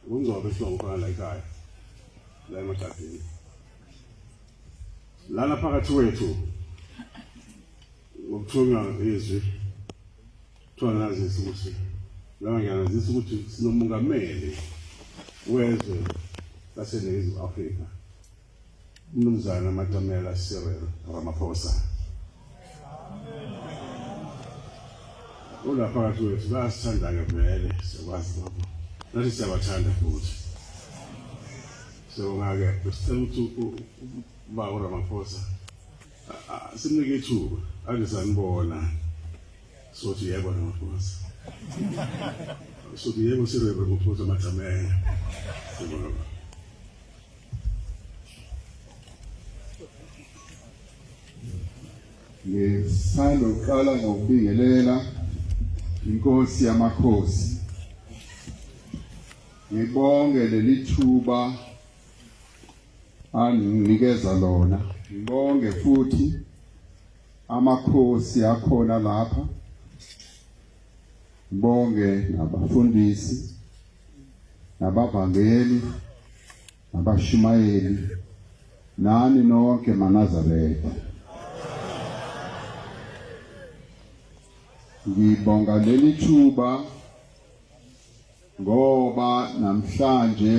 Ungcobe sinomfana la ekhaya la emaqadeni lana phakathi wethu ngokuthunywa izwi kuthiwa nazisa ukuthi laba ngiyanazisa ukuthi sinomungameli wezwe laseningizimu afrika Mnumzana Matamela Cyril Ramaphosa. Unaphakathi wethu bayasithanda-ke vele siyakwazi lokho nathi siyabathanda futhi siyabonga-ke besicela ukuthi uba uramaphosa simnike ithuba ake sanibona sothi yebo ramaphosa sothi yebo sirebe maphosa matamela siyabonga ngisanda ukuqala ngokubingelela inkosi yamakhosi ngibonge leli thuba anginikeza lona ngibonge futhi amakhosi akhona lapha ngibonge nabafundisi nabavangeli nabashumayeli nani nonke manazaretha ngibonga leli thuba ngoba namhlanje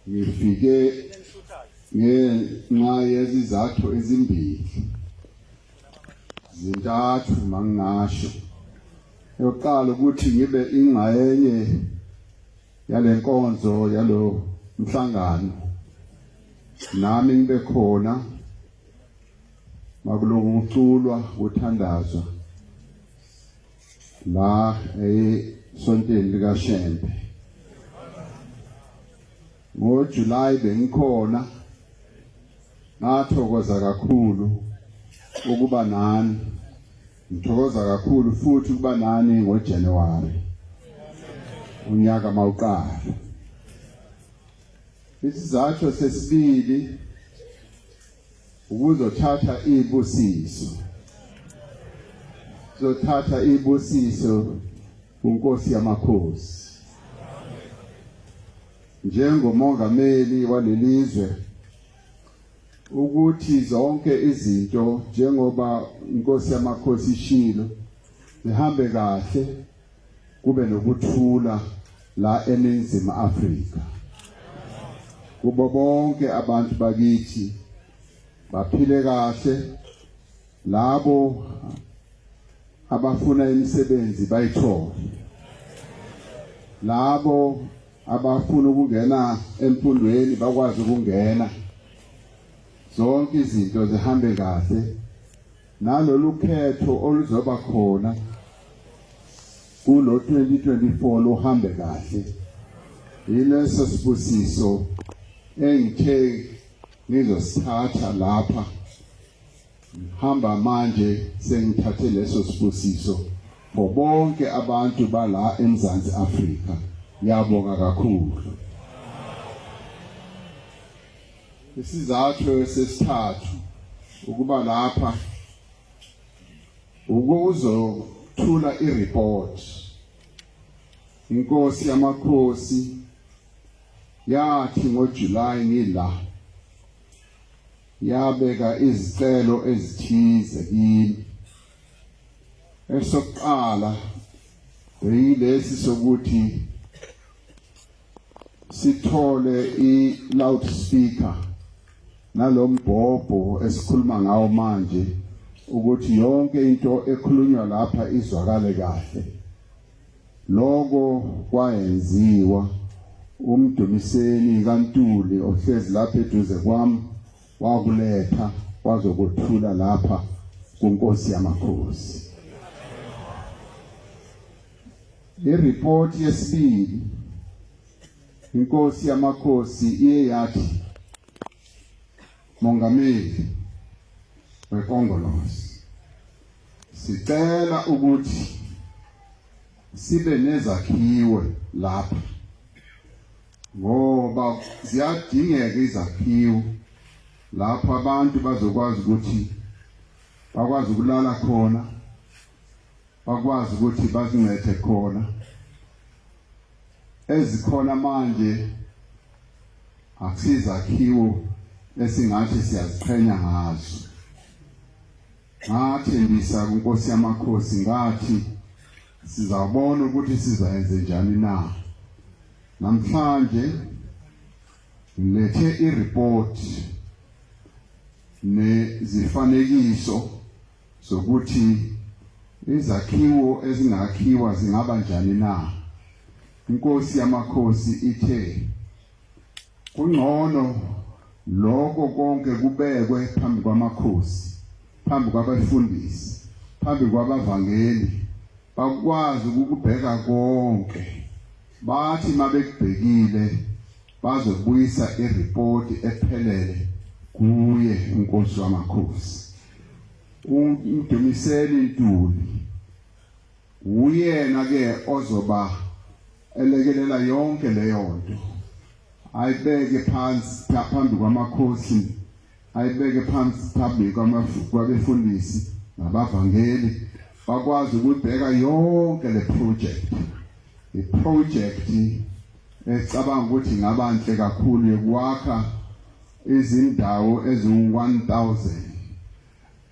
ngifike ngenxa yezizathu ezimbili zintathu mangingasho yokuqala ukuthi ngibe ingxenye yalenkonzo yalo mhlangano nami ngibe khona makuloku kuculwa kuthandazwa la esontweni likaShembe NgoJulayi bengikhona ngathokoza kakhulu ukuba nani ngithokoza kakhulu futhi ukuba nani ngoJanuwari unyaka mawuqala isizathu sesibili ukuzothatha ibusiso zothatha ibusiso kunkosi yamakhosi njengomongameli walelizwe ukuthi zonke izinto njengoba inkosi yamakhosi ishilo zihambe kahle kube nokuthula la eningizimu Afrika kubo bonke abantu bakithi baphile kahle labo abafuna imisebenzi bayithole labo abafuna ukungena emfundweni bakwazi ukungena zonke izinto zihambe kahle nalolu khetho oluzoba khona kulo 2024 luhambe kahle yileso sibusiso engithe ngizosithatha lapha Hamba manje sengithathe leso sibusiso for bonke abantu bala eMzansi Afrika. Ngiyabonga kakhulu. Isizathu sesithathu ukuba lapha ukuzothula ireport inkosi yamakhosi yathi ngoJuly ngila Yabeka izicelo ezithize kimi. Esokuqala beyilesi sokuthi sithole i-loudspeaker nalombhobho esikhuluma ngawo manje ukuthi yonke into ekhulunywa lapha izwakale kahle Lokho kwayenziwa umdumiseni kaNtuli ohlezi lapha eduze kwami wakuletha wazokuthula lapha kunkosi yamakhosi. Ireport yesibili inkosi yamakhosi iye yathi Mongameli weKongolose Sicela ukuthi sibe nezakhiwe lapha ngoba ziyadingeka izakhiwo lapho abantu bazokwazi ukuthi bakwazi ukulala khona bakwazi ukuthi bazincethe khona ezikhona manje akusizakhiwo esingathi siyaziqhenya ngazo Ngathembisa kuNkosi yamakhosi ngathi sizabona ukuthi sizayenze njani na. Namhlanje ngilethe i-report nezifanekiso zokuthi izakhiwo ezingakhiwa zingaba njani na. Inkosi yamakhosi ithe Kungcono lokho konke kubekwe phambi kwamakhosi, phambi kwabafundisi, phambi kwabavangeli bakwazi ukubheka konke. Bathi mabekubhekile bazobuyisa ireport ephelele kuye uNkosi wamakhosi. Umdumiseni intuli Wuyena ke ozoba elekelela yonke leyo nto. Ayibeke phansi phambi kwamakhosi, ayibeke phansi phambi kwabefundisi nabavangeli bakwazi ukubheka yonke le project. I project ecabanga ukuthi ngabanhle kakhulu yokwakha izindawo eziwu-1000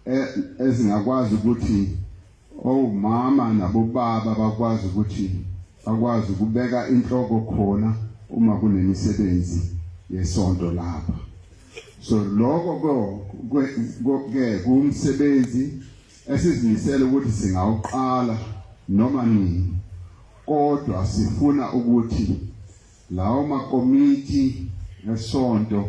e, ezingakwazi ukuthi Omama nabobaba bakwazi ukuthi bakwazi ukubeka inhloko khona uma kunemisebenzi yesonto lapha so lokho ke kumsebenzi esizimisele ukuthi singawuqala noma nini kodwa sifuna ukuthi lawo makomiti esonto